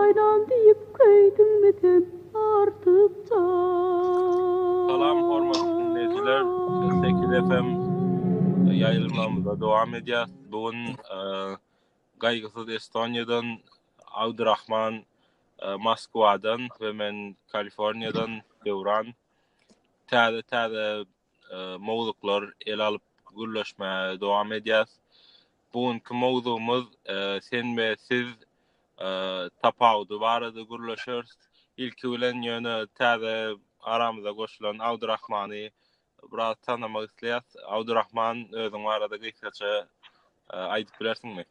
Aýlan diýip köýdüňmi sen artykja. Salam hormatly diňleýjiler Sekiz FM ýaýlymlarymyza dowam edýäs bu gün Gaýgysyz Estoniýadan Abdurahman Moskwadan we men Kaliforniýadan Döwran täze täze mowzuklar ele alyp gürleşmäge dowam edýäs. Bu günki mowzugymyz sen we siz tapawudy barada gürleşeris. Ilki bilen ýöne täze aramyza goşulan Abdurrahmany biraz tanamak isleýäs. Abdurrahman özüň barada gysgaça e, aýdyp bilersiňmi?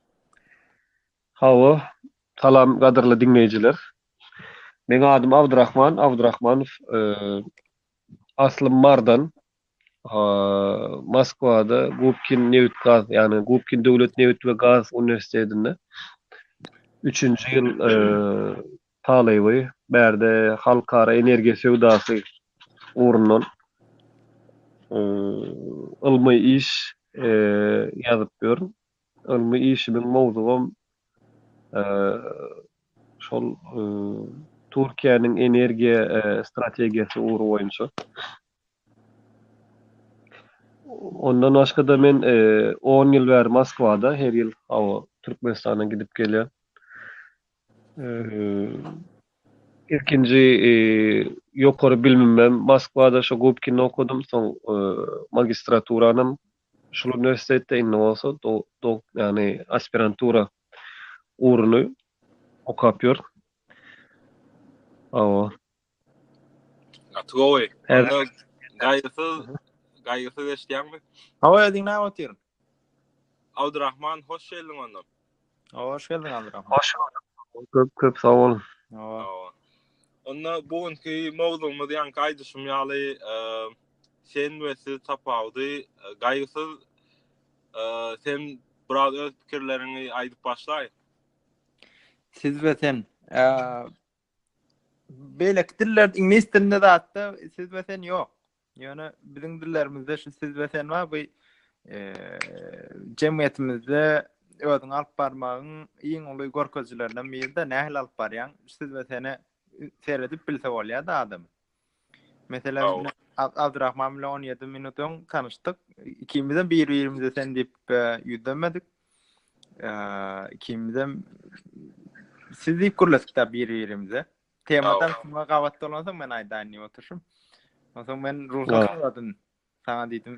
Hawa, salam gadyrly diňleýjiler. Meň adym Abdurrahman Abdurrahmanow. E, Aslym Mardan. Moskwada Gubkin nebit-gaz, ýagny Gubkin döwlet nebit we gaz uniwersitetinde üçünji ýyl talyby. Bärde halkara energiýa söwdasy ugrundan ylmy iş ýazyp ýörün. Ylmy işimiň mowzugam şol Türkiýäniň energiýa strategiýasy ugry boýunça. Ondan başga-da men on ýyl bäri Moskwada, her ýyl Türkmenistana gidip gelýän. Ilkinji ýokary bilimimem Moskwada, şo Gubkinde okadym, soň magistraturanam Şol uniwersitetde indi bolsa dok, ýagny aspirantura ugruny okap ýör. Hawa. Gaty gowy. Gaýgysyz, gaýgysyz eşitýäňmi? Hawa, diňläp otyr. Abdurahman, hoş geldiň onda. Awa hoş geldiň Aldyr ahun. Hoş gördük. Köp köp sag bol. Awa. Onda bu günki mowzugymyz ýanki aýdyşym ýaly sen we siz tapawudy gaýgysyz sen biraz öz pikirleriňi aýdyp başlaý. Siz we sen beýleki diller iňlis dilinde zatda siz we sen ýok. Ýöne biziň dillerimizde şu siz we sen bar, bu jemgyýetimizde özüň alyp barmagyň iň uly görkezijilerinden biri-de, nähili alyp barýaň? Siz we seni seredip bilse bolýar-da adam. Meselem, Abdurrahman bilen 17 minut öň tanyşdyk. Ikimiz hem bir-birimize sen diýip ýüzlenmedik. Ikimiz hem siz diýip gürledik-de bir-birimize. Temadan şuna gabat dolansaň men aýdaýyn diýip oturyşym. Onsoň men ruhsat soradym. Saňa diýdim,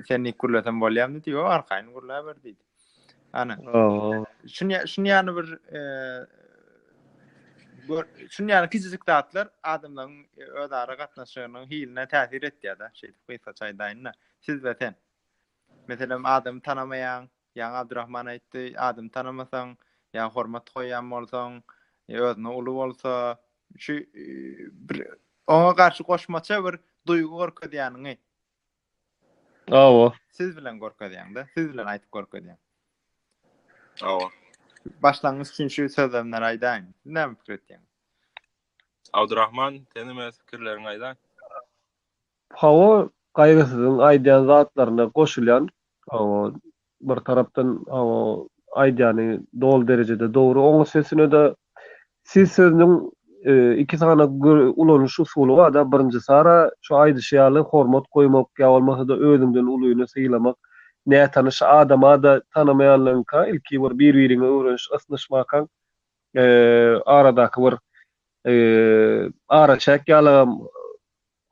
sen nik gürlesem bolýarmy diýip, o arkaýyn gürläber diýdi. Ana. Şuny şuny ýany bir e, gör, şuny ýany kiçijik zatlar adamlaryň e, özara gatnaşygynyň hiline täsir etýär-de, şeýdip gysgaça aýdaýyn-da. Siz we sen. Meselem, adamy tanamaýaň, Ýaňy Abdurahman aýtdy, adam tanamasaň, ýa hormat goýýan bolsaň, ýa özüne uly bolsa, şu bir oňa garşy goşmaça bir duýgy görkezýäniňi. Hawa. Siz bilen görkezýäň-de, siz bilen aýdyp görkezýäň. Hawa. Başlangyç üçin şu sözlemleri aýdaýyn. Näme pikir etýäň? Abdurahman, sen hem öz pikirleriňi aýdaý. Hawa, Gaýgysyzyň aýdýan zatlaryna goşulýan. Hawa, bir tarapdan hawa, aýdýany doly derejede dogry. Oň üstesine-de siz sözüniň iki sany ulanyş usuly bar-da, birinjisi ara, şu aýdyşy ýaly, hormat goýmak ýa bolmasa-da özüňden ulyny sylamak, nätanyş adama-da tanamaýanlygyňka ilki bir bir-biriňe öwreniş, ysnyşmakaň aradaky bir araçäk ýalygam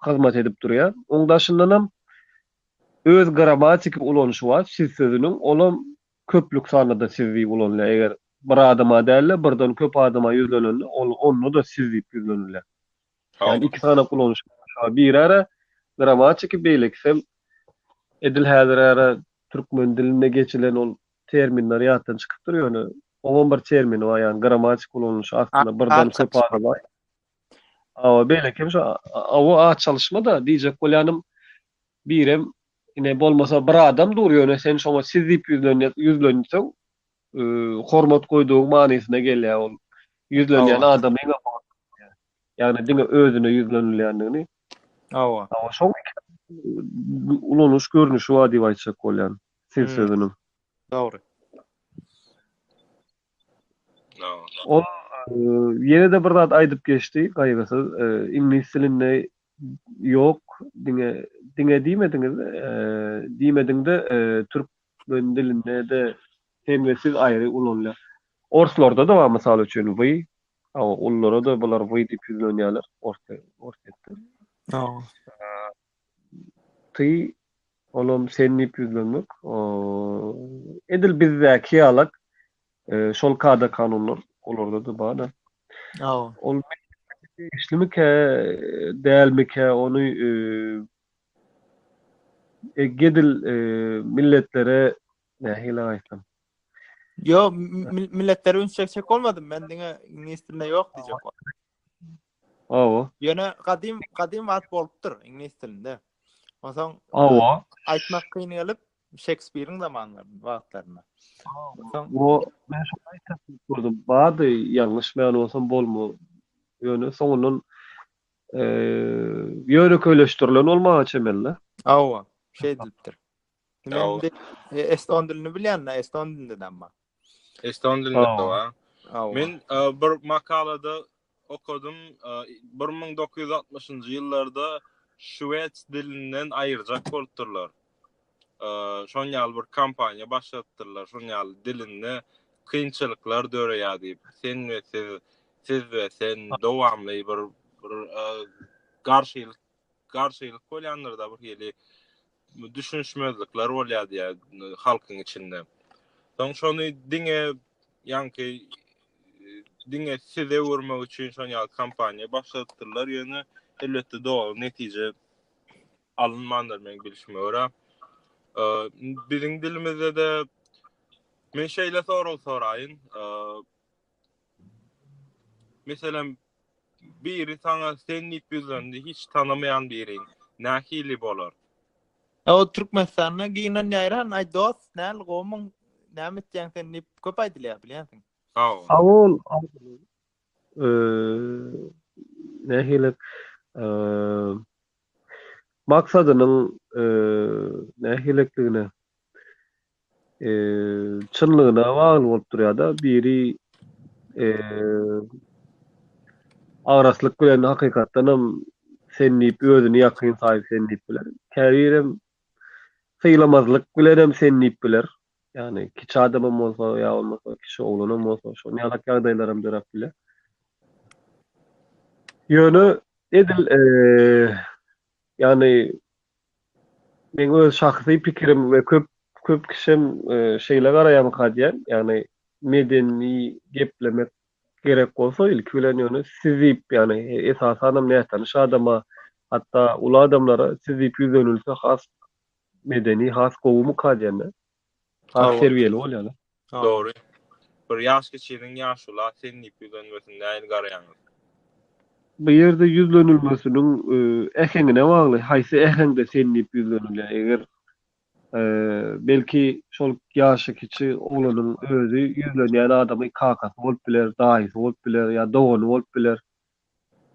hyzmat edip durýar. Oň daşyndanam öz grammatiki ulanyşy bar, siz sözüniň, olam köplük sanda-da siz diýip ulanylýar. Eger bir adama däl-de, birden köp adama ýüzlenende, ol onda-da siz diýip ýüzlenilýär. Ýagny iki sanda ulanyşy bar. Birara grammatiki, beýlekisem edil häzir ara türkmen dilinde geçilen ol terminler ýatdan çykypdyr, ýöne oňam bir termini bar, ýagny grammatiki ulanyşy aslynda birden köp adama Awa beýleki hem şu awa at çalyşma-da diýjek bolýanym, birem ine bolmasa bir adam dur, ýöne sen şoňa siz diýip ýüzlenseň, hormat goýdugyň manysyna gelýär ol. Ýüzlenýän adamyň ýagny diňe özüne ýüzlenilýändigini. Awa. Awa şoň ulanyş görnüşi bar diýip aýtjak bolýan siz sözüniň. Dogry. Ol ýene-de bir zat aýdyp geçdi, Gaýgysyz, iňlis dilinde ýok, diňe, diňe diýmediňiz, diýmediňde türk men dilinde-de sen we siz aýry ulanylýar. Orslarda-da bar, mysal üçin, wy, a ululara-da bular wy diýip ýüzlenýärler, orslar, orsýetler. Ty, olam sen diýip ýüzlenmek. O, edil bizdäki ýalak, şol kada-kanunlar olarda-da bar-da. Hawa. Ol degişlimikä, dälmikä, ony edil milletlere nähili aýtsam? Ýok, milletlere üns çekjek bolmadym, men diňe ingilis dilinde ýok diýjek boldum. Hawa. Ýöne gadym gadym wagt bolupdyr iňlis dilinde. Onsoň Hawa. Aýtmak kyn gelip Şekspiriň zamanlarynda wagtlarynda. Onsoň o men şo aýtsak gördüm. Bady ýalňyşmaýan bolsam bolma. Ýöne soňundan eee ýönekeýleşdirilen bolmaga çemeli. Hawa. Şeýdilipdir. Eston dilini bilýän-de, eston dilinde-de amma. Eston dilinde wa. Men bir makalada okadym, 1960-njy ýyllarda şweds dilinden aýyrjak bolupdyrlar. Şoň ýaly bir kompaniýa başladypdyrlar, şoň ýaly dilinde kynçylyklar döreýär diýip, sen we siz, siz we sen dowamly bir garşylyk garşylyk bolýandyrda bir hili düşünişmezlikler bolýar diýär halkyň içinde. Soň şony diňe ýanky diňe size öwürmek üçin şon ýaly kampaniýa başladypdyrlar ýöne elbetde dogry netije alynmandyr men bilişime görä. Biziň dilimizde de men şeýle sorag soraýyn. Meselem, biri saňa sen diýip ýüzlendi, hiç tanamaýan biriň, nähili bolar? E, o Türkmenistanda gynanýaran, aý dost, näl gowmyň, näme etýäň sen diýip köp aýdylýar, bilýänsiň. Hawa. Hawa ol nähili maksadynyň nähilidigine çynlygyna bagly bolup durýar-da, biri agraslyk bilen hakykatdan hem sen diýip özüni ýakyn saýyp sen diýip biler, käbirem sylamazlyk bilenem sen diýip biler, ýagny kiçi adamam bolsa ýa bolmasa kiçi oglanam bolsa şol ýalak ýagdaýlaram döräp biler. Ýöne edil ýagny Meň öz şahsy pikirim we köp köp kişem şeýle garaýamyka diýýän. Ýagny medeni geplemek gerek bolsa ilki bilen ýöne siz diýip ýagny esasanam nätanyş adama hatda uly adamlara siz diýip ýüzlenilse has medeni has gowumyka diýýän-de. Ak terbiýeli bolýarlar. Dogry. Bir ýaş geçiriň ýaşula sen diýip ýüzlenmesin nähili garaýaňyz? Bu ýerde ýüzlenilmesiniň äheňine bagly, haýsy äheňde sen diýip ýüzlenilýär. Eger belki şol ýaşy kiçi oglanyň özi ýüzlenýän adamy kakasy bolup biler, daýysy bolup biler ýa dogany bolup biler.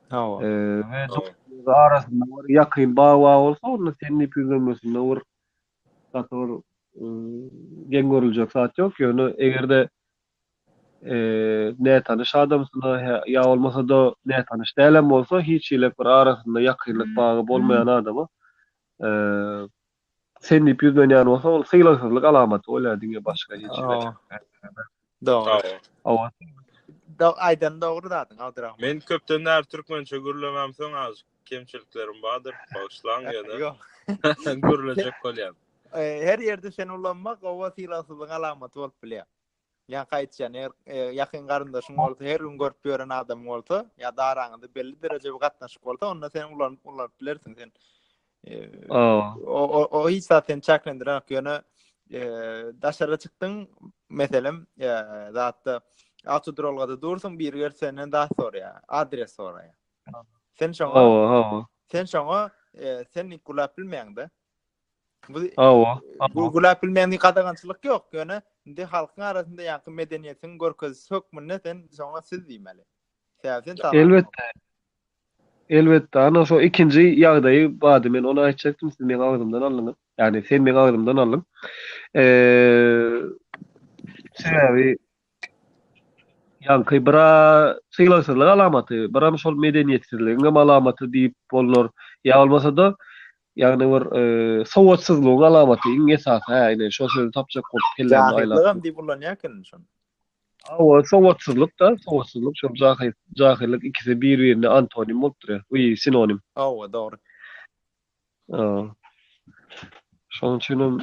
Hawa. Eee, arasynda bir ýakyn bag-bag bolsa, onda seniň ipi üzenmesinde bir gaty bir geň görüljek zat ýok. Ýöne eger-de eee, nätanyş adamsyna ýa bolmasa-da nätanyş dälem bolsa, hiç hili bir arasynda ýakynlyk bagy bolmaýan adama eee, Sen diýip ýüzlenýän bolsa ol sylagsyzlyk alamaty bolýar diňe başga hiç hä. Dogry. Hawa. Dog aýdan dogry zadyň Abdurahman. Men köpden bäri türkmençe gürlemem soň azjyk kemçiliklerim bardyr bagyşlaň ýöne Ýok. gürlejek bolýan. Her ýerde seni ulanmak gowa sylagsyzlygyň alamaty bolup bilýär. Ýa gaýtýan, eger ýakyn garyndaşyň bolsa, her gün görüp ýören adamyň bolsa, ýa da araňyzda belli derejede gatnaşyk bolsa, onda sen ulanyp ulanyp bilersiň sen. O o o hiç zat seni çäklendiren ýok. Ýöne daşara çykdyň, meselem, zatda awtoduralgada dursuň, biri gelip senden zat soraýar, adres soraýar. Sen şoňa, sen şoňa, sen nik gulap bilmeýäň-de. Bu Awa. Bu gülap bilmeýän gadagançylyk ýok, ýöne indi halkyň arasynda ýaňky medeniýetiň görkezisi hökmünde sen şoňa siz diýmeli. Sebäbi sen Elbetde. Elbetde, ana şo ikinji ýagdaýy bady men ony aýtjakdym, siz meň agzymdan aldyňyz. Ýagny sen meň agzymdan aldyň. Eee sebäbi Ýaňky bir-ä sylagsyzlyk alamaty, biram şol medeniýetsizligiňem alamaty diýip bolnar. Ýa bolmasa-da, ýagny bir sowatsyzlygyň alamaty iň esasy-hä, ine, şo sözi tapjak bolup kellämi aýlap. Jahyllygam diýip ullanýa ekeniň şony. Hawa, sowatsyzlyk-da, sowatsyzlyk, şol jahyllyk ikisi bir-birine antonim bolup durýa, we sinonim. Hawa, dogry. Aa. Şonuň üçin hem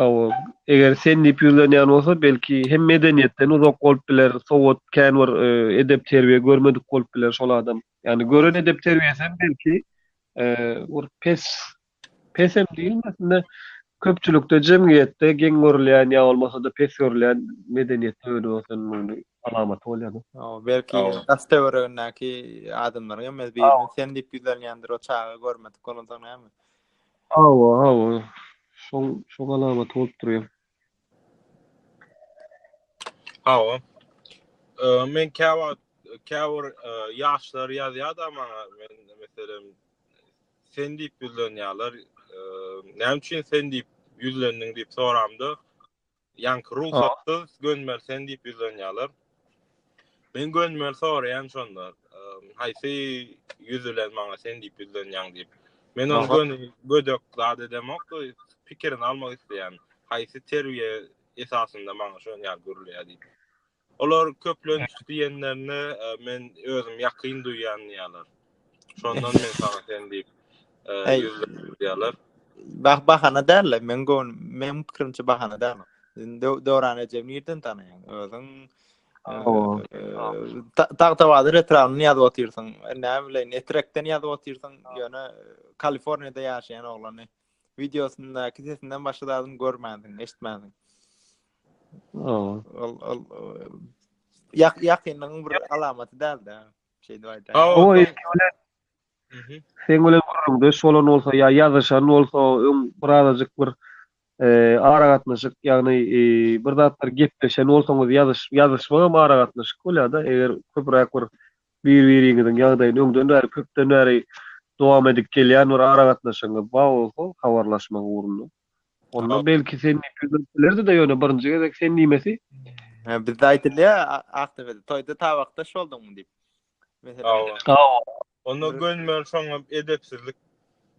awa, eger sen diýip ýüzlenýän bolsa, belki hem medeniýetden uzak bolup biler, sowat, kän bir e, edep-terbiýe görmedik bolup biler şol adam. Ýani gören edep-terbiýesi hem belki e, bir pes pes hem diýilmesin-de, köpçülikde, jemgyýetde geň görülýän ýa bolmasa-da pes görülýän medeniýetde öwrenip oturan bolmaly. Alamaty bolýar-da. Hawa, belki daş-töweregindäki adamlaryň hem öz biriniň sen diýip ýüzlenýändir, o çaga görmedik bolansoň näme? Hawa, hawa. Şoň, şoň alamaty bolup durýar. Hawa. Eee, men käwagt, käbir ýaşlar ýazýar-da maňa, men, meselem, sen diýip ýüzlenýärler, eee, näme üçin sen diýip ýüzlendiň diýip soramda, Ýaňky rugsatsyz gönmeli sen diýip ýüzlenýärler. Men gönmeli soraýan şonda. Haýsy ýüz bilen maňa sen diýip ýüzlenýäň diýip. Men ony göni gödek zat edemok, pikirini almak isleýän. Haýsy terbiýe esasynda maňa şony ýaly gürleýär diýip. Olar köplenç diýenlerinde men özüm ýakyn duýýan diýýärler. Şondan men saňa sen diýip ýüzlendim diýýärler. Bah bahana däl, men gön, men pikirimçe bahana däl. Indi Döwran eje nirden tanaýaň? Özüň Tagtabadyr etrabyny ýazyp otyrsyň. Näme bileýin, Etrekden ýazyp otyrsyň, ýöne Kaliforniýada ýaşaýan oglany. videosyndaky sesinden başga zadyny görmänsiň, eşitmänsiň. Ol ol ýak ýakynlygyň bir alamaty däldi. Şeýdip aýdaýyn. O eşitmeli. Sen bilen gürrüňde şolan bolsa ýa ýazyşan bolsa, öň bir azajyk bir e, ara gatnaşyk, ýagny e, bir zatlar gepleşen bolsaňyz ýazyş ýazyşmagam ara gatnaşyk bolýar-da, eger köpräk bir Bir-biriňiziň ýagdaýyny öňden bäri, köpden bäri dowam edip gelýän bir aragatnaşygyňyz bar bolsa, habarlaşmak ugrunda. Onda belki sen diýip ýüzlenip bilerdi-de, ýöne birinji gezek sen diýmesi. Hä, bizde aýdylýar, Akdepede, toýda tabakdaş bolduňmy diýip. Hawa. Hawa. Onda gönümel şoňa edepsizlik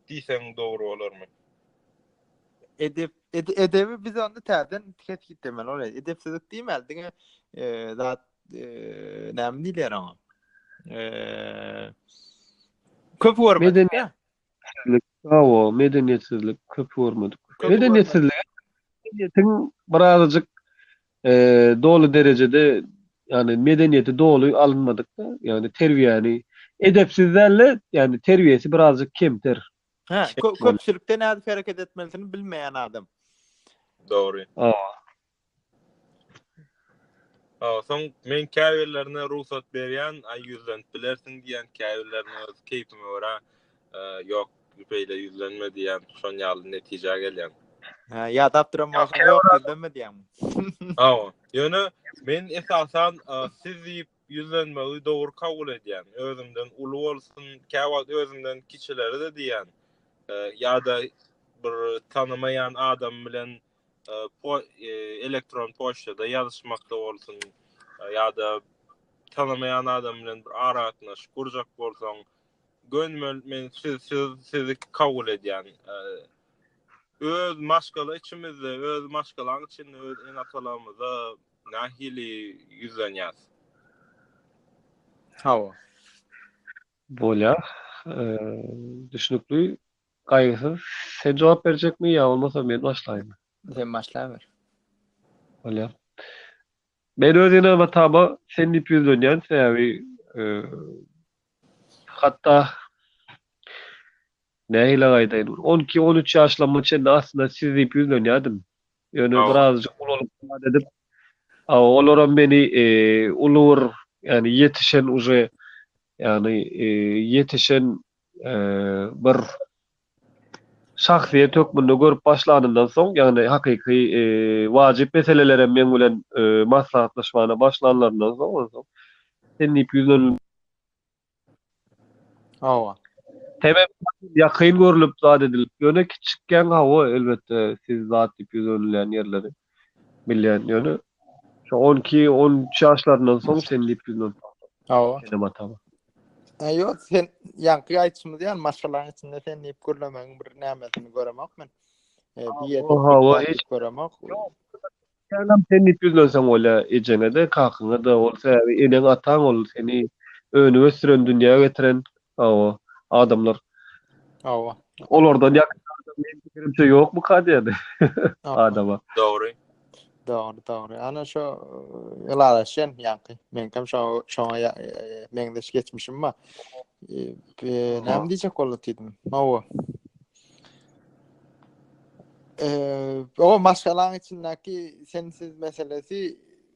diýseň dogry bolarmy? Edep, edebi biz onda täzeden kesgitlemeli bolar. Edepsizlik diýmäli, diňe zat näme diýler oňa? Eee köp görmedik. Medeniýet. Bravo, medeniýetsizlik köp görmedik. Medeniýetsizlik medeniýetiň birazajyk eee doly derejede ýani medeniýeti doly alynmadyk da, ýani terbiýäni edepsiz dälle, ýani terbiýesi birazajyk kemter. Hä, köpçülikde nädip hereket etmelidigini bilmeýän adam. Dogry. Awa. Soň men käbirlerine rugsat berýän, aý ýüzlenip bilersiň diýýän, käbirlerine öz keýpime görä, ýok, beýle ýüzlenme diýýän, şon ýaly netijä gelýän. Hä, ýadap duran bolsaň, ýok, ýüzlenme diýýäňmi? Hawa. Ýöne men esasan siz diýip ýüzlenmegi dogry kabul edýän. Özümden uly bolsun, käwagt özümden kiçilere-de diýýän. Ýa-da bir tanamaýan adam bilen elektron poçtada ýazyşmakda bolsun ýa-da tanamaýan adam bilen bir aragatnaşyk gurjak bolsaň, gönümel men siz siz sizi kabul edýän. Öz maşgala içimizde, öz maşgalaň içinde öz ene-atalarymyza nähili ýüzlenýäs? Hawa. Bolýar. Düşnükli. Gaýgysyz, sen jogap berjekmi ýa bolmasa men başlaýynmy? Sen başlaber. Bolýar. Men öz enama Taba sen diýip ýüzlenýän, sebäbi hatda nähilek aýdaýyn, bir on iki, on üç ýaşlarma çenli aslynda siz diýip ýüzlenýärdim. Ýöne birazajyk ulalyp zat edip, olaram meni uly bir, ýagny ýetişen uje, ýagny ýetişen bir şahsyýet hökmünde görüp başlanymdan soň, ýagny hakyky wajyp meselelerem meň bilen maslahatlaşmana başlanlaryndan soň, ondan soň sen diýip ýüzlenilmegi Hawa. Sebäbi ýakyn görlüp zat edilip, ýöne kiçikkäň hawa elbetde siz zat diýip ýüzlenilýän ýerleri. bilýän ýöne şu on iki on üç ýaşlaryndan soň sen diýip ýüzünden Awa. Senem atama. E, Ýok, sen ýaňky aýtymyz ýaly maşgalaň içinde sen diýip gürlemegiň bir nämesini göremok men. E, bir ýerde Oha, bir oha, zat hiç- göremok. Ýalam sen diýip ýüzlenseň bolýar ejeňe-de, kakyňa-da. Ol sebäbi eneň, ataň ol seni önüp ösdüren, dünýä getiren Hawa, adamlar. Hawa. Olardan ýakyn adam men pikirimçe ýokmuka diýdi adama. Dogry. Dogry, dogry. Ana şu ylalaşýan ýaňky. Men hem şu şoňa meňzeş geçmişim bar. Näme diýjek boldy diýdim. Hawa. Eee, o maşgalaň içindäki sensiz meselesi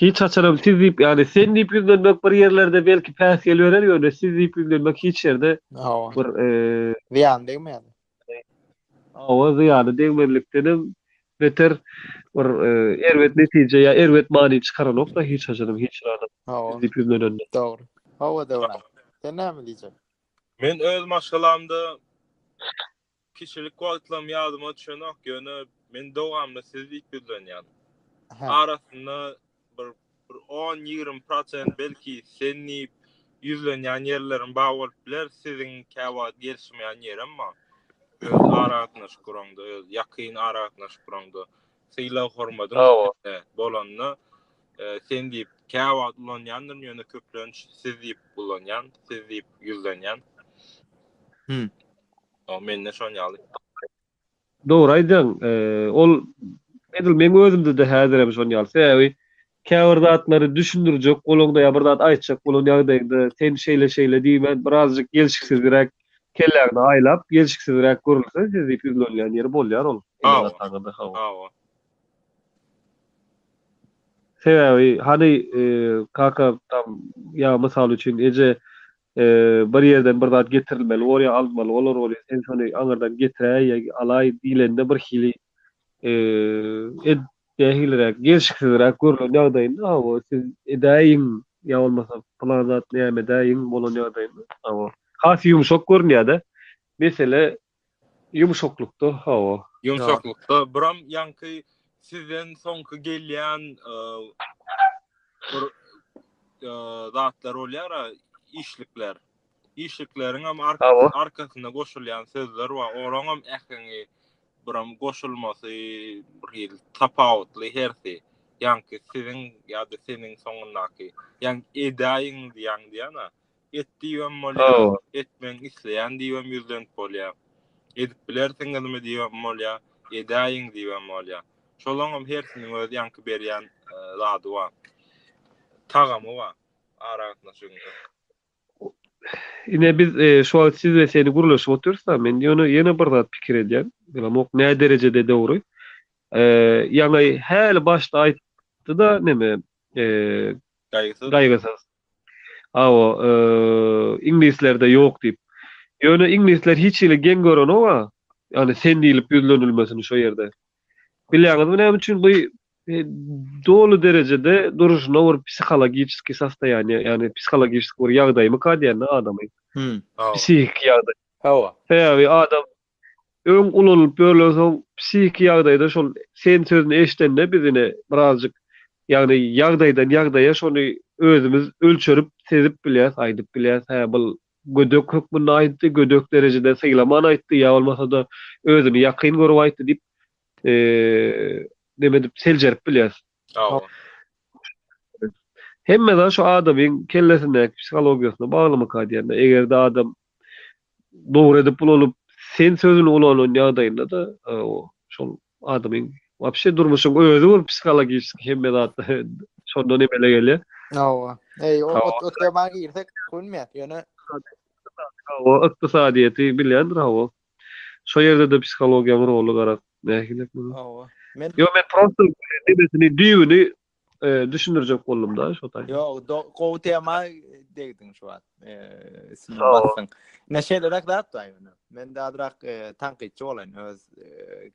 Hiç haçanam siz diýip, ýagny sen diýip ýüzlenmek bir ýerlerde belki päsgel berer, ýöne siz diýip ýüzlenmek hiç ýerde Hawa. bir zyýany degmän. Hawa, zyýany degmezlikdenem beter bir erbet netije ýa erbet many çykaranok-da hiç haçanam hiç bir adam siz diýip ýüzlenende. Dogry. Hawa Döwran. Sen näme diýjek? Men öz maşgalamda Kiçilik wagtlarym ýadyma düşenok, ýöne men dowamly siz diýip ýüzlenýän. Arasynda bir bir on, ýigrimi prosent belki sen diýip ýüzlenýän ýerlerim bar bolup biler, siziň käwagt gelişmeýän ýerem bar. Öz aragatnaşyk guraňda, öz ýakyn aragatnaşyk guraňda, sylag-hormadyň üstünde bolanda sen diýip käwagt ulanýandyryn, ýöne köplenç siz diýip ulanýan, siz diýip ýüzlenýän. Ýok, mende şon ýaly. Dogry aýdýaň. Ol edil meň özümde-de häzirem şon ýaly. Sebäbi käbir zatlary düşündirjek bolaňda ýa bir zat aýtjak bolan ýagdaýyňda sen şeýle-şeýle diýmän birazjyk gelşiksizräk kelläňde aýlap, gelşiksizräk görülse siz diýip ýüzlenilýän ýeri bolýar ol. Hawa. Hawa. Sebäbi hany kaka tam ýa mysal üçin eje bir ýerden bir zat getirilmeli bolýar, alynmaly bolar bolýar, sen şony aňyrdan getiräý ýa alaý diýlende birhili ed nähiliräk gelşiksizräk görlen ýagdaýynda hawa siz edäýiň ýa bolmasa pylan zat näme edäýiň bolan ýagdaýynda hawa has ýumşak görünýär-de mesele Ýumşaklykda hawa. Ýumşaklykda buram ýaňky sizden soňky gelýän bir zatlar bolýara işlikler. Işlikleriňem arkasynda goşulýan sözler bar. Olaňam äheňi buram goşulmasy bir hili tapawutly hersi. Ýaňky siziň ýa-da seniň soňundaky. Ýaňky edäýiň diýýän diýýän-ä. Et diýibem bolýar, etmegiňi isleýän diýibem ýüzlenip bolýar. Edip bilersiňizmi diýibem bolýar, edäýiň diýibem bolýar. Şolaňam hersiniň öz ýaňky berýän zady bar. Tagamy bar aragatnaşygyň. Ine biz şu wagt siz we seni gürleşip otyrys-a, men ýöne ýene bir zat pikir edýän. Bilemok nä derejede dogry. Ýaňy häli başda aýtdy-da neme, gaýgysyz. Hawa, iňlislerde ýok diýip. Ýöne iňlisler hiç hili geň görenok-a, ýagny sen diýlip ýüzlenilmesini şo ýerde. Bilýäňizmi näme üçin? Bu doly derejede duruşyna bir psihologiçeskiý sostoýaniýe, ýagny psihologiçeskiý bir ýagdaýmyka diýen-de adamyň. Psihiki ýagdaý. Hawa. Sebäbi adam Öň ulanylyp ýörlen soň psihiki ýagdaýda şol sen sözüni eşdende biz ine birazjyk ýagny ýagdaýdan ýagdaýa şony özümiz ölçerip sezip bilýäs aýdyp bilýäs hä bul gödek hökmünde aýtdy gödek derejede sylaman aýtdy ýa bolmasada özüni ýakyn görüp aýtdy diýip neme edip seljerip bilýäs. Hawa. Hemme zat şu adamyň kellesindäki psihologiýasyna baglymyka diýende, eger-de adam dogry edip ulanyp, sen sözüni ulanan ýagdaýynda-da, şol adamyň wapşe durmuşyň özi bir psihologiski hemme zat şondan emele gelýär. Hawa. Eý, o tema girsek, gülmeýäs, ýöne. Hawa, ykdysadyýeti bilýändir, hawa. Şo ýerde-de psihologiýaň roly garaz nähili? Hawa. Men Ýok, men prosta nebesini, düýbüni düşündirjek boldum-da şo taýda. Ýok, gowy tema degdiň şu wagt. Üstüne basdyň. Ne şeýleräk zat-da ýöne. Men azrak tankytçy bolaýyn öz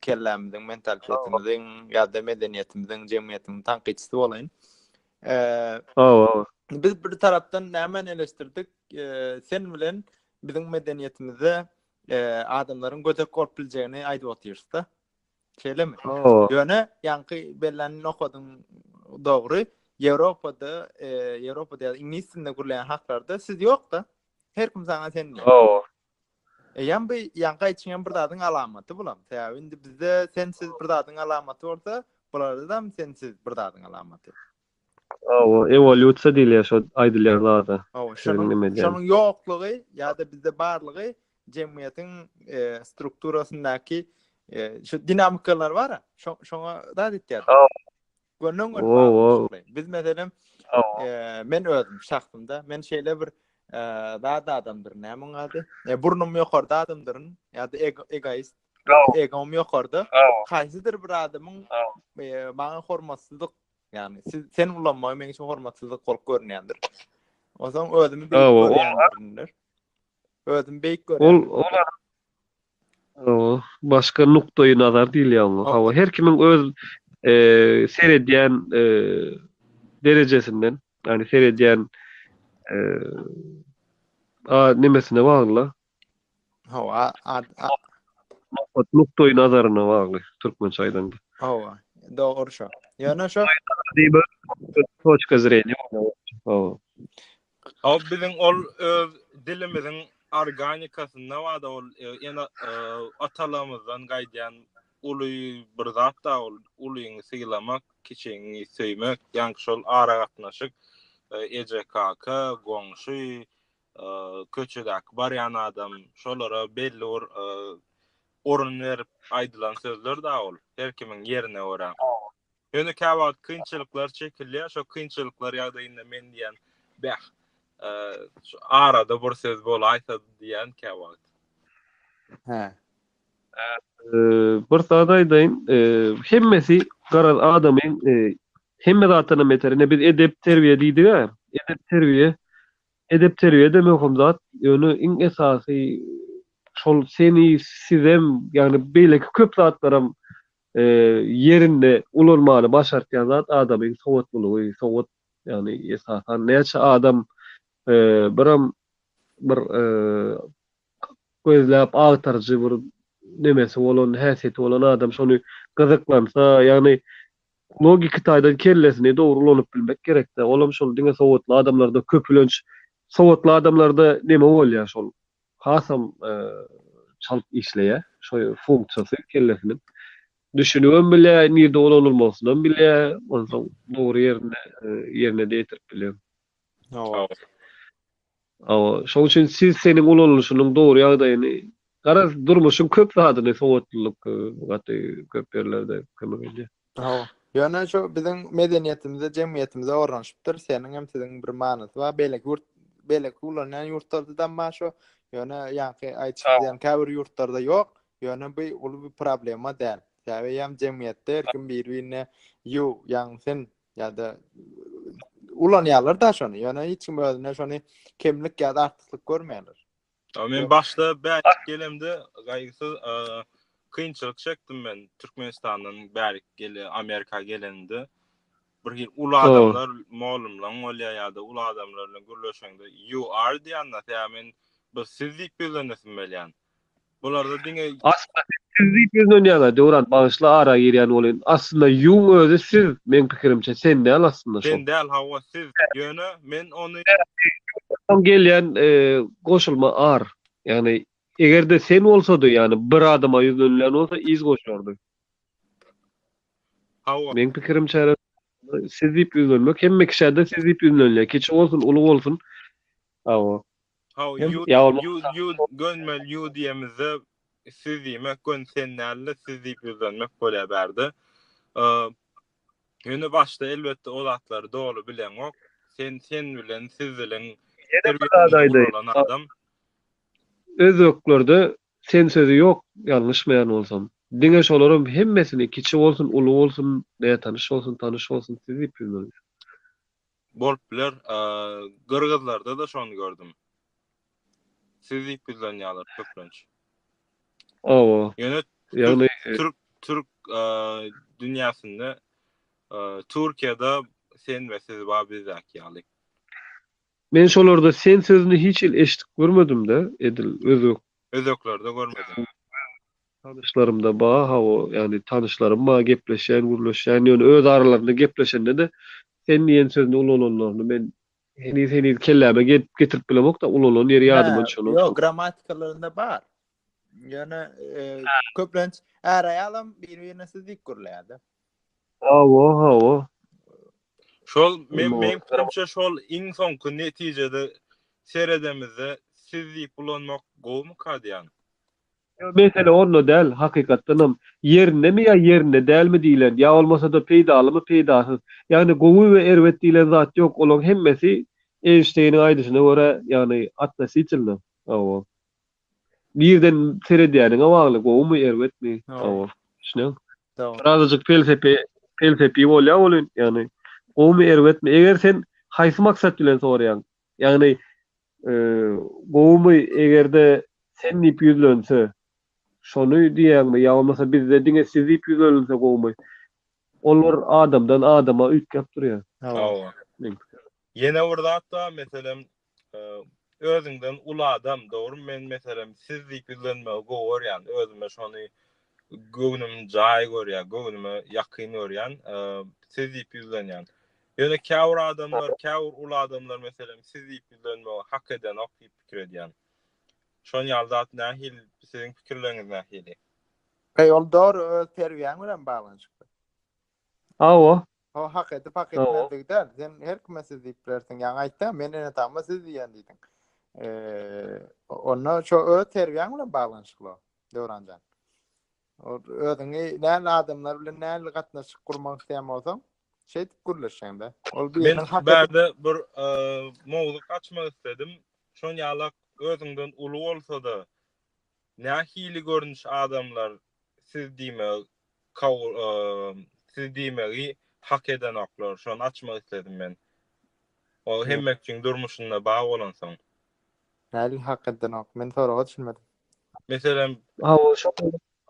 kellämiziň, mentalitetimizin ýa-da medeniýetimiziň, jemgyýetimiziň tankytçysy bolaýyn. Hawa, hawa. Biz bir tarapdan nämeni eleşdirdik? Sen bilen Biziň medeniýetimizde adamlaryň gödek bolup biljegini aýdyp otyrys-da. Şeýlemi? Ýöne ýaňky bellenini okadyň dogry. Ýewropada, Ýewropada ýa-da iňlis dilinde gürleýän haklarda siz ýok-da. Her kim saňa sen diýýär. Hawa. Eýýäm bu ýaňky aýtýan bir zadyň alamaty bulam. Sebäbi indi bizde sensiz bir zadyň alamaty bolsa, bularda hem sensiz bir zadyň alamaty. Hawa, ewolýusiýa diýilýär şo aýdylýan zada. Hawa, şonuň şonuň ýoklugy ýa-da bizde barlygy jemgyýetiň strukturasyndaky şu dinamikalar bar-a, şoňa zat etýär. Gönden-göni bagly. Biz meselem, men özüm şahsymda, men şeýle bir zat adamdyryn, näme onuň ady? Burnum ýokarda adamdyryn ýa-da egoist, egom ýokarda. Haýsydyr bir adamyň maňa hormatsyzlyk Yani siz sen ulanmagy men üçin hormatsyzlyk bolup görünýändir. Onsoň özümi beýik Aw, o- görýändir. Özümi beýik Ol görýän. ol adam- Aw, başga nukdaýy nazar diýilýär oňa. Hawa, her kimiň öz eee, seredýän eee, derejesinden, ýagny seredýän eee, a, nemesine bagly. Hawa, ad, ad. Maksat nukdaý nazaryna bagly, türkmençe aýdanda. Hawa, dogry şo. Ýöne şo Diýip, toçka zreniýa bolýar. Hawa. O biziň ol öz dilimiziň organikasynda bar-da ol e, ene e, atalarymyzdan gaýdýan uly bir zat-da ol ulyňy sylamak, kiçiňi söýmek, ýaňky şol aragatnaşyk, e, eje, kaka, goňşy, köçedäki barýan adam şolara belli bir orun berip aýdylan sözler da ol her kimiň ýerine görä. Ýöne käwagt kynçylyklar çekilýär, şo kynçylyklar ýagdaýynda men diýen bäh, şu arada bir söz bolaýsa diýen käwagt. Hä. Bir zat aýdaýyn, hemmesi garaz adamyň hemme zatdan beter, ine biz edep-terbiýe diýdik-ä, edep-terbiýe Edep-terbiýe-de möhüm zat, ýöne iň esasy şol seni, sizem, ýagny beýleki köp zatlaram ýerinde ulanmany başartýan zat adamyň sowatlylygy, sowat, ýagny esasan näçe adam biram bir gözläp agtaryjy bir nemesi bolan, häsiýeti bolan adam şony gyzyklansa, ýagny Logiki taýdan kellesini dogry ulanyp bilmek gerekde, olam şol diňe sowatly adamlarda, köpülenç sowatly adamlarda neme bolýar şol hasam çalt işleýär şo funksiýasy kellesiniň. Düşünibem bilýär, nirde ulanylmasynam bilýär, onsoň dogry ýerinde ýerine de ýetirip bilýär. Hawa. Hawa, şoň üçin siz seniň ulanylyşynyň dogry ýagdaýyny, garaz, durmuşyň köp zadyny sowatlylyk gaty köp ýerlerde kömek edýär. Hawa. Ýöne şu biziň medeniýetimize, jemgyýetimize ornaşypdyr. Seniň hem siziň bir manysy bar. Beýleki ýurt, beýleki ulanýan ýurtlardadam bar şu. Ýöne ýaňky aýdyşyň diýen käbir ýurtlarda ýok. Ýöne bu uly bir problema däl. Sebäbi hem jemgyýetde her kim bir-birine you, ýagny sen ýa-da ulanýarlar da şony. Ýöne hiç kim özüne şony kemlik ýa-da artyklyk görmeýärler. Men başda bärik gelemde gaýgysyz kynçylyk çekdim men Türkmenistandan bärik gele Amerika gelende. Bir hil uly adamlar, mugallymlaň bolýar ýa-da uly adamlar bilen gürleşende you are diýende, ýa men bir siz diýip ýüzlenesim gelýän. Bularda diňe Aslynda siz siz diýip ýüzlenýäňä Döwran bagyşla ara girýän bolýyn. Aslynda ýuň özi siz meň pikirimçe sen däl aslynda şol. Sen däl hawa siz ýöne men ony. Soň gelýän goşulma ar. Ýagny egerde sen bolsady ýagny bir adama ýüzlenilýän bolsa iz goşardy. Hawa. Meň pikirimçe siz diýip ýüzlenmek hemme kişäde siz diýip ýüzlenilýär kiçi bolsun uly bolsun Hawa. Hawa, Hem ýud, ýa bolmasa ýud, ýud, şahsy gönmeli ýu diýemizde siz diýmek gön sen däl-de siz diýip ýüzlenmek bolýar bärde. Ym, Ýöne başda elbetde o zatlary doly bileňok. Sen sen bilen siz diliň Ýene bir zat terbiýesinde aýdaýyn. guralan Bak, adam. özbeklerde sen sözi ýok, ýalňyşmaýan bolsam. Diňe şolaram hemmesini kiçi bolsun, uly bolsun, nätanyş bolsun, tanyş bolsun siz diýip ýüzlenýär. Bolup biler. Gyrgyzlarda da şony gördüm. Siz diýip ýüzlenýärler köplenç. Oba. Ýöne ýagny türk türk dünýäsinde Türkiýede sen we siz bar bizdäki ýaly. Men şolarda sen sözüni hiç hili eşidip görmedim-de edil özbek özeklerde görmedim. Tanyşlarymda ba hawa, ýagny tanyşlarym ba gepleşýän, gürleşýän, ýöne öz aralarynda gepleşende-de sen diýen sözüni ulananlaryny men heniz-heniz kelläme getirip bilemok-da, ulanan ýeri ýadyma düşenok. Ýok, grammatikalarynda bar. Ýöne köplenç är-aýalam bir-birine siz diýip gürleýär-de. Hawa, hawa. Şol men men pikrimçe şol iň soňky netijede seredemizde siz diýip ulanmak gowumy Kadiýan? Ýok mesele onda däl hakykatdanam ýerindemi ýa ýerinde dälmi diýlen ýa bolmasada peýdalymy peýdasyz ýagny gowy we erbet diýlen zat ýok olaň hemmesi Eýnşteýniň aýdyşyna görä ýagny atnositilno hawa. Nirden seredýäniňe bagly, gowumy, erbetmi, awal, düşünýäňmi? Birazajyk pelsepe, pelsepi bolýar welin, ýagny gowumy, erbetmi, eger sen haýsy maksat bilen soraýaň, ýagny gowumy, eger-de sen diýip ýüzlense, şony diýýäňmi, ýa bolmasa bizde diňe siz diýip ýüzlenilse gowumy, ol bir adamdan adama üýtgäp durýar. Hawa. Ýene bir zat bar, meselem, Özüňden uly adam, dogrymy men meselem siz diýip ýüzlenmegi gowy görýän, özüme şony göwnüm jaý görýän, göwnüme ýakyn görýän, siz diýip ýüzlenýän. Ýöne käbir adamlar, käbir uly adamlar meselem siz diýip ýüzlenmegi hak edenok diýip pikir edýän. Şon ýaly zat nähili, siziň pikirleriňiz nähili? Ol dogry öz terbiýäň bilen baglanyşykly. Hawa. O hak edip hak etmezlik däl. Sen her kime siz diýip bilersiň. Ýaňy aýtdy, men ene tamma siz diýen diýdiň. Eee, onda şu öz terbiýäň bilen baglanyşykly. Döwranjan. Özüňi näl adamlar bilen näl gatnaşyk gurmak isleýän bolsaň, şeýdip gürleşeňde. Ol biriniň hak edip. Bärde bir mowzuk açmak isledim. Şon ýalak özüňden uly bolsa-da, Nähili görnüş adamlar siz diýmegi kabul siz diýmegi hak edenoklar şony açmak isledim men. Ol hemme üçin durmuşynda bar bolansoň. Nähili hak edenok? Men soraga düşünmedim. Meselem. Hawa şo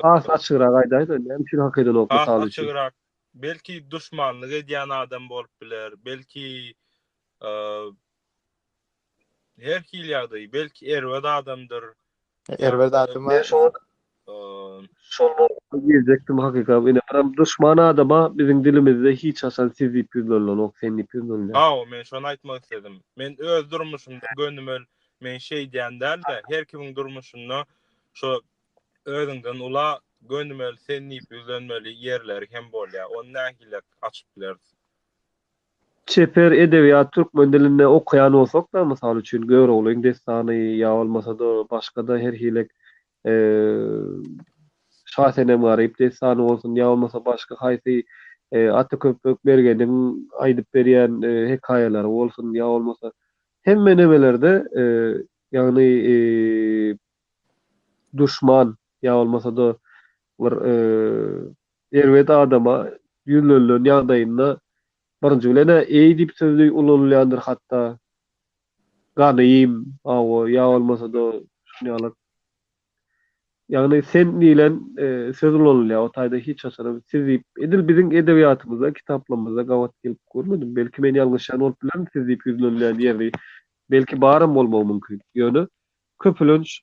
has açygrak aýdaýda näme üçin hak edenok mysal üçin. Has açygrak belki duşmanlyk edýän adam bolup biler belki Her hili ýagdaý, belki erbet adamdyr. Erbet adama. Men şol şonda geljekdim hakyka. Ine biram duşman adama biziň dilimizde hiç haçan siz diýip ýüzlenilenok, sen diýip ýüzlenilýär. Hawa, men şony aýtmak isledim. Men öz durmuşymda gönümel men şeýdýän däl-de, her kimiň durmuşynda şo özüňden ula gönümel sen diýip ýüzlenmeli ýerleri hem bolýar. Ony nähili açyp bileris? Çeper edebiýat türkmen dilinde okaýan bolsak-da, mysal üçin, Göroglyň dessany ýa bolmasa-da başga-da her hilek Şasenem Garyp dessany bolsun ýa bolmasa başga haýsy Ataköpek mergeniň aýdyp berýän hekaýalary bolsun ýa bolmasa hemme nemelerde ýagny duşman ýa bolmasa-da Bir erbet adama ýüzlenilen ýagdaýynda birinji bilen-ä eý diýip sözi ulanylýandyr hatda, ganyým, hawa, ýa bolmasa-da şunýalyk. Ýagny sen diýlen söz ulanylýar, o taýda hiç haçanam siz diýip, edil biziň edebiýatymyzda, kitaplarymyzda gabat gelip görmedim. Belki men ýalňyşýan bolup bilerin siz diýip ýüzlenilýän ýeri, belki baram bolmagy mümkin. Ýöne köpülenç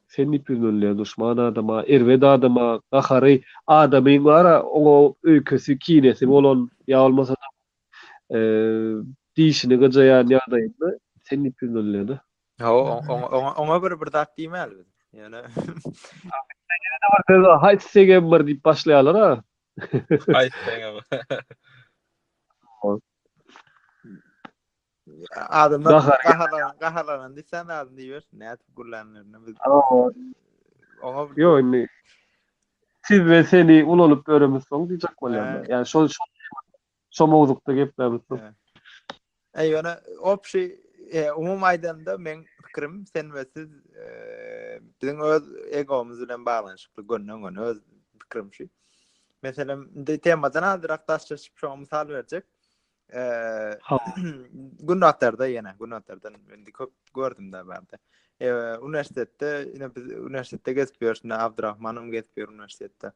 Sen diýip ýüz münle duşman adama, erbet adama, gahary adamyň bar-a, oňa öýkesi, kinesi bolan ýa bolmasa-da dişini gyjaýan ýagdaýynda sen diýip ýüz münle-de. Hawa, oňa, oňa bir, bir zat diýmäli biz. Ýöne. Haýsy segem bir diýip başlaýarlar-a. Haýsy segem. Adamlar Gahar- gaharlanan, gaharlanan diýsen adam diýersin. Nädip gürlänlerini biz. Aa, Oňa bir Yo indi siz we seni ulanyp ýöremiz soň diýjek bolýarlar. He. Ýani şol şol şo mowzukda geplämiz soň. He. Eý, ýöne opşi, e, umum aýdanda meň pikirim sen we siz e, biziň öz egomyz bilen baglanyşykly gönden-göni öz pikirim şu. Meselem, indi temadan azrak daş çeşip şoňa mysal berjek. Eee, gün atarda ýene, gün atarda indi köp gördüm de barda. Eee, uniwersitetde, ine biz uniwersitetde gezip ýörüs, ine Abdurrahmanym gezip ýör uniwersitetde.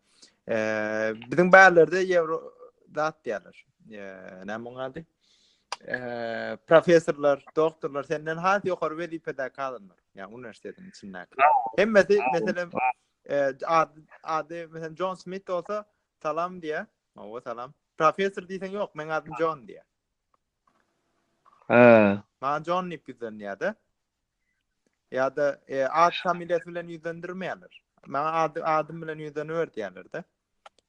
Eee, biziň bärlerde ýewro zat diýerler. Eee, näme oň ady? Eee, professorlar, doktorlar senden has ýokary wezipedäki adamlar, ýa uniwersitetiň içindäki. Hemmesi meselem Ady meselem Jon Smit bolsa salam diýä. Owa salam. Professor diýseň ýok, meň adym Jon diýä. Hä. Maňa Jon diýip ýüzlenýär-de. Ýa-da e, ad familiýasy bilen ýüzlendirmeýärler. Maňa ady adym bilen ýüzleniber diýýärler-de.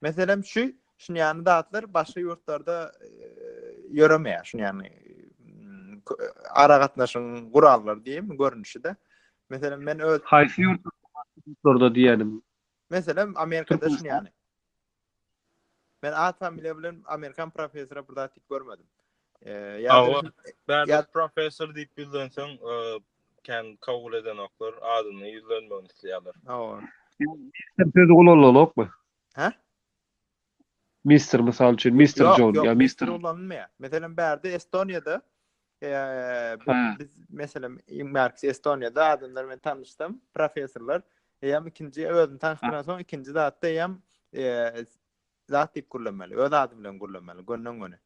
Meselem şu şun ýany zatlar başga ýurtlarda ýöremeýär. Şun ýany ara gatnaşyň gurallary diýim görnüşde. Meselem men öz haýsy ýurtlarda diýenim. Meselem Amerikada şun ýany. Men at familiýa bilen amerikan professora bir zat diýip görmedim. Ýa-da Bärbet professor diýip ýüzlenseň, kän kabul edenoklar, adyny ýüzlenmegini isleýärler. Hawa. Mister sözi ulanylokmy? Hä? Mister mysal üçin, Mister John ýa Mister ulanylmaýar. Meselem, bärde Estoniýada biz meselem, Marks Estoniýada adamlar bilen tanyşdym, professorlar, eýýäm ikinji özüni tanyşdyransoň, ikinji zatda eýýäm zat diýip gürlemeli. Öz ady bilen gürlemeli, gönden-göni.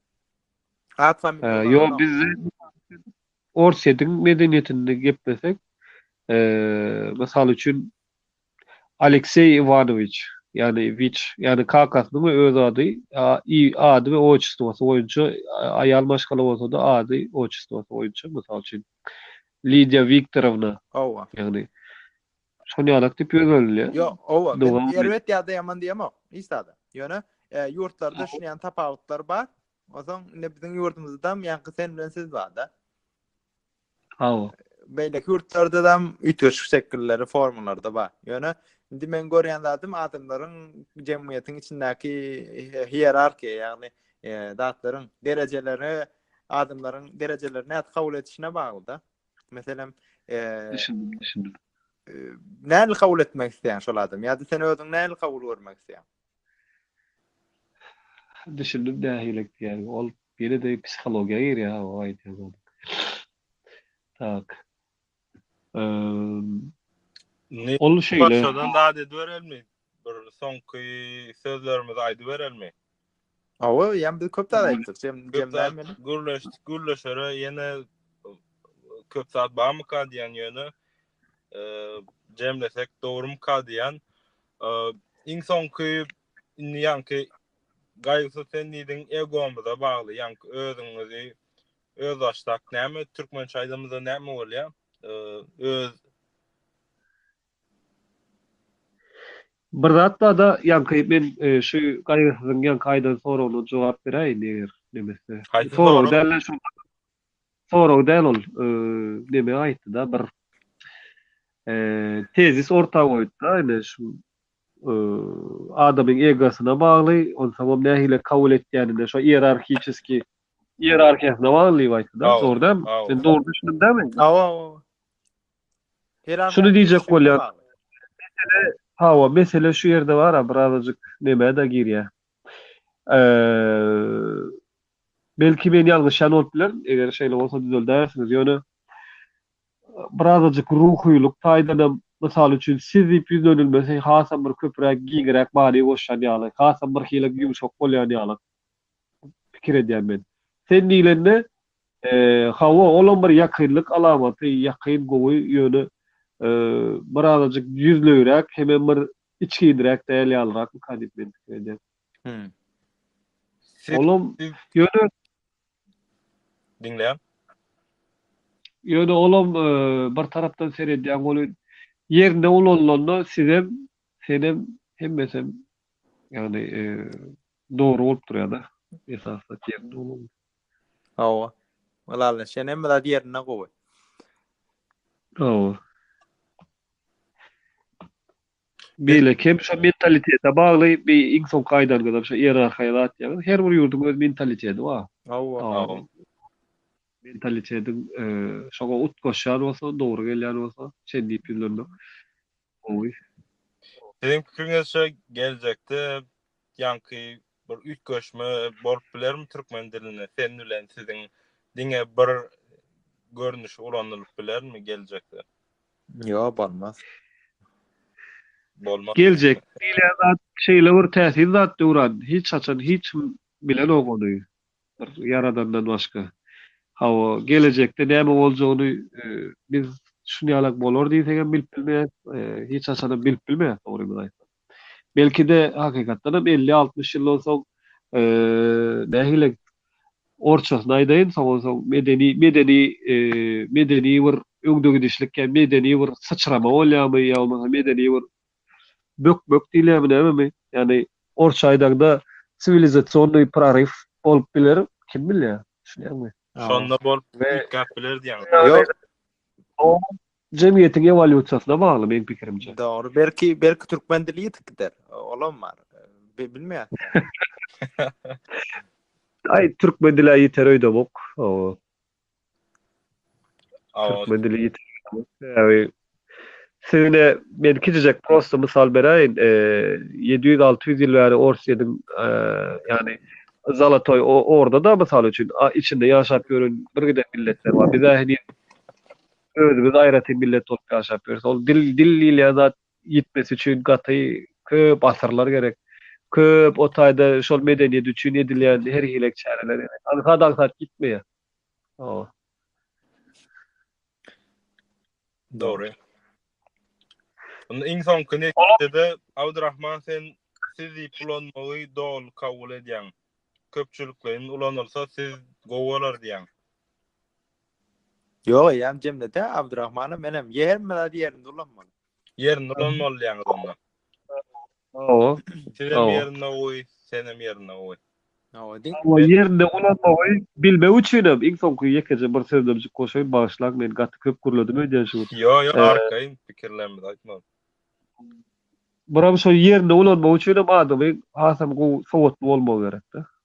At familiýa Ee, Ýok, bizde Orsýetiň medeniýetinde geplesek, ee, mysal üçin Alekseý Iwanowiç, ýagny Wiç, ýagny kakasynyň we öz ady, i ady we otçestwosy boýunça, aýal maşgala bolsa-da ady, otçestwosy boýunça, mysal üçin, Lidiýa Wiktorowna, ýagny Şol ýalak diýip ýöz berilýär. Ýok, oba, men erbet ýa-da ýaman diýemok, hiç zada. Ýöne ýurtlarda şuny ýaly tapawutlar bar. Onsoň indi biziň ýurdumyzdam ýaňky sen bilen siz barda. Hawa. Beýleki ýurtlarda da üýtgeşik şekilleri, formalary bar. Ýöne indi men görýän zadym adamlaryň jemgyýetiň içindäki hierarhiýa, ýagny zatlaryň derejeleri, adamlaryň derejelerini nädip kabul edişine bagly-da. Meselem, eee, düşündim, düşündim. Eee, näme kabul etmek isleýän şol adam? Ýa-da sen özüň näme kabul görmek isleýän? Düşündim nähililik diýýän. Ol ýene-de psihologiýa girýär, o aýdýan zady. Tak. Eee, ol şeýle. Başdan zady berelmi? Bir soňky sözlerimizi aýdyberelmi? Awa, ýa biz köp zat aýtdyk, jem jemlän bilen. Gürleşdik, gürleşere ýene köp zat barmyka diýen ýöne jemlesek dogrumyka diýen. Iň soňky indi ýaňky gaýgysy sen diýdiň egomyza bagly, ýaňky özüňizi öz başdak näme türkmençe aýdamyzda näme bolýa? Öz Bir zat barda ýaňky men şu gaýgysyzyň ýaňky aýdan soragyna jogap beräýin eger nemese. Haýsy sorag? Sorag däl-de şol sorag däl ol neme aýtdy-da bir tezis orta goýdy-da ine şu adamyň egosyna bagly onsoňam nähili kabul etýänine şo ierarhiçeski ierarhiýasyna bagly diýip aýtdy-da dogry dälmi? Men dogry düşündim dälmi? Hawa hawa. Şuny diýjek bolýan, mesele, hawa, mesele şu ýerde bar-a, birazajyk nämä-dä girýär. Belki men ýalňyşýan bolup bilerin, eger şeýle bolsa düzeldäýersiňiz, ýöne birazajyk ruhylyk taýdanam, mysal üçin, siz diýip ýüzlenilmesi hasam bir köpräk, giňräk many goşýan ýaly, hasam birhili ýumşak bolýan ýaly. pikir edýän men. Sen diýlende, hawa, olam bir ýakynlyk alamaty, ýakyn, gowy, ýöne bir azajyk ýüzlegiräk hemem bir içginräk däl ýalyrakmyka diýip men pikir edýän. Hümm. Olam, ýöne. Diňleýän. Ýöne olam bir tarapdan seredýäň, ol ýerinde ulanylanda sizem, senem, hemmesem, ýagny, Dogry bolup durýada esasy zat ýerinde bolanda. Hawa. Ylally şeýle hemme zat ýerinde gowy. Hawa. Beýle kem şo mentalitete bagly bi iň soňky aýdanyňyzam şo ierarhiýa zat ýaňyz her bir ýurduň öz mentaliteti bar. Hawa. Mentalitetiň şoňa utgaşýan bolsa dogry gelýän bolsa şeýdip ýüzlenmek. Gowy. Siziň pikiriňizçe geljekde ýaňky bir üýtgeşme bolup bilermi türkmen dilinde sen bilen siziň diňe bir görnüşi ulanylyp bilermi geljekde? Ýok bolmaz. Bolmaz Geljek diýilýän zat şeýle bir täsin zat Döwran hiç haçan hiç kim bilenok ony. Bir Ýaradandan başga. Hawa, gelejekde näme boljagyny biz şuny ýalak bolar diýsegem bilip bilmeýäs, hiç haçanam bilip bilmeýäs dogrymyzy aýtsak. Belki-de, hakykatdanam elli-altmyş ýyldan soň, nähili, orçasyny aýdaýyn, soňan soň medeni, medeni, medeni bir öňdegidişlik ýa medeni bir syçrama bolýarmy ýa bolmasa medeni bir bökmek diýilýärmi nämemi, ýagny, orsça aýdaňda siwilizasionnyý proryw bolup biler, kim bilýär, düşünýäňmi? Şonda bolup üýtgäp biler diýýäňmi? Ýok. O jemgyýetiň ewolýusiýasyna bagly meň pikirimçe. Dogry, belki, belki türkmen dili ýitip gider, olam bar, bilmeýäris. Aý, türkmen dili-ä ýiter öýdemok. Hawa. Türkmen dili ýitirýämiň sebäbi Siz-de men kiçijek prosta mysal beräýin, ýedi ýüz, alty ýüz ýyl bäri Orsyýediň, ýagny Zolotoý Orda-da, mysal üçin, içinde ýaşap ýören birgiden milletler bar. Biz-ä heniz özümiz aýratyn millet bolup ýaşap ýörüs. Ol dil, dil diýilýän zat ýitmesi üçin gaty köp asyrlar gerek. Köp o taýda şol medeniýet üçin edilýän her hili çäreler gerek. Aňsat aňsat ýitmeýär. Hawa. Dogry. Onda iň soňky netijede Abdurrahman sen siz diýip ulanmagy doly kabul edýäň. Köpçülikleýin ulanylsa siz gowy bolar diýýäň. Ýok eýýäm jemledi Abdurahmana menem ýerme zat ýerinde ulanmaly. Ýerinde ulanmaly diýýäňiz onda. Hawa. Sizem ýerinde goý, senem ýerinde goý. Hawa diň. Hawa ýerinde ulanmagy bilmek üçinem iň soňky ýekeje bir sözlemjik goşaýyn bagyşlaň men gaty köp gürledim öýdýän şu gün. Ýok ýok arkaýyn pikirlerimizi aýtmaly. Buram şo ýerinde ulanmak üçinem adamyň hasam gowy sowatly bolmagy gerekde.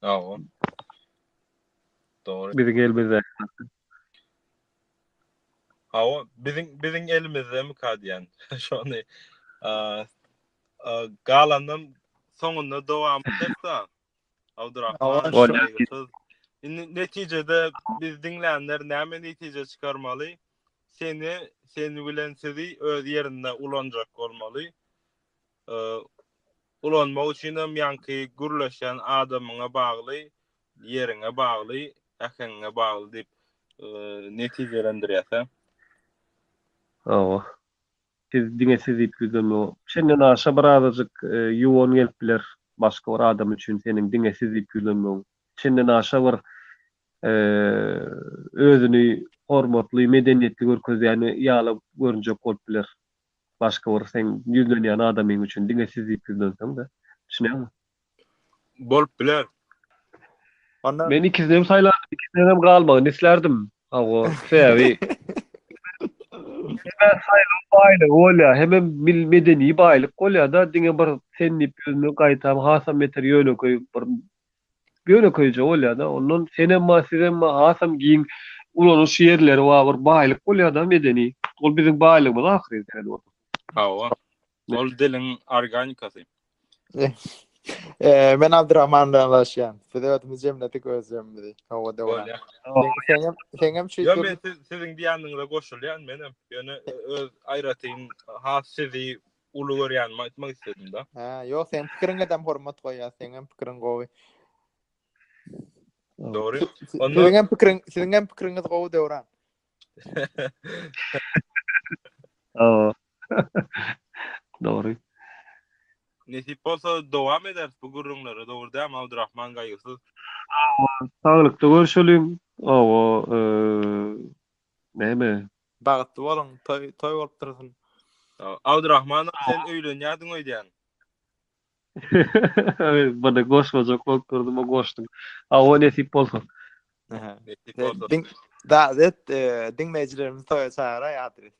Sag bol. Dogry. Biziň elimizde. Hawa, biziň biziň elimizdemikä diýen. Şony galandan soňunda dowam etsa. Abdurrahman. Indi netijede biz diňlänler näme netije çykarmaly? Seni, seni bilen sizi öz ýerinde ulanjak bolmaly. ulanmak üçin hem ýaňky gürleşýän adamyňa bagly, ýeriňe bagly, äheňiňe bagly diýip netijelendirýärsiň. Hawa. Siz diňe siz diýip ýüzlenme. Şenden aşa bir azajyk ýuwan gelip biler başga bir adam üçin seniň diňe siz diýip ýüzlenmegiň. Şenden aşa bir özüni hormatly, medeniýetli görkezýän ýaly görünjek bolup biler. Başga bir seň ýüzlenýän adamyň üçin diňe siz diýip ýüzlenseň-de. Düşünýäňmi? Bolup biler. Onda Men ikisini hem saýlardym, ikisinden hem galmagyny islärdim. Hawa, sebäbi Diňe saýlaw baýlygy bolýar, hemem mil medeni baýlyk bolýar-da, diňe bir sen diýip ýüzlenmek gaýtam hasam beter ýönekeý bir Ýönekeýje bolýada ondan senem bar sizem bar hasam giň ulanyş ýerleri bar bir baýlyk bolýada medeni ol biziň baýlygymyz ahyry däl ol. Hawa. Ol diliň organikasy. Eee men Abdurahman bilen ylalaşýan. Biz özümiz jemledik öz jemimizi. Hawa dogry. Seňem seňem şu. Ýöne siziň diýýändiňize goşulýan menem. Ýöne öz aýratyn has sizi uly görýänimi aýtmak isledim da. Hä, ýok, seň pikiriňe dem hormat goýýas, seň hem pikiriň gowy. Dogry. Onda Siziň hem pikiriň, siziň hem pikiriňiz gowy Döwran. Hawa. Dogry. nesip bolsa dowam ederis bu gürrüňlere, dogry dämi Abdurrahman gaýgysyz? Hawa, saglykda görşeliň. Hawa, eee, Näme? Bagtly boluň, toý toý bolup dursun. Abdurahmanow sen öýlenýärdiň öýdýän. Bada goşmajak bolup durdum o goşdum. Hawa nesip bolsa. Nesip bolsa. Diň Dazet diňleýjilerimizi toýa çagyraý adres.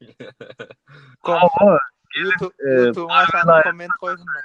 Hawa. YouTube YouTube aşagyna komment goýsunlar.